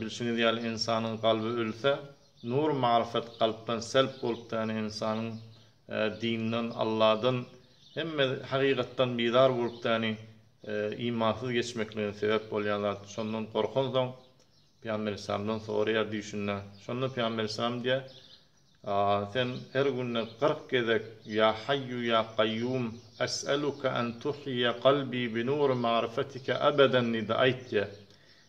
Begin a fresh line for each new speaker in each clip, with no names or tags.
Bilşiňiz ýaly ynsanyň kalby ölse, nur maryfat kalpdan selp bolup däne ynsanyň dindan, Alladan, hemme hakykatdan bizar bolup däni imansyz geçmekligine sebäp bolýan zat. Şondan gorkansoň, Pygamber Aleyhisselamdan soraýar düýşünde. Şonda Pygamber Aleyhisselam diýýär, Sen her günde kyrk gezek, Ýa Haýýu ýa Kaýýum, es'eluke en tuhýiýe kalbi bi nuri maryfatika abadan diýdi, aýt diýýär.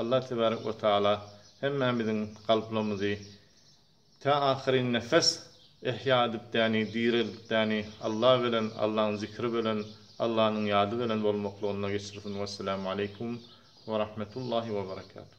Allah tebarek we taala hemmämiziň kalplarymyzy tä ahyryn nefes ehýa edipdäni, direldipdäni Allah belen, Allaň zikri belen, Allanyň ýady belen bolmaklygynda geçirsin. Wesselamu aleykum we rahmetullahi we berekatuh.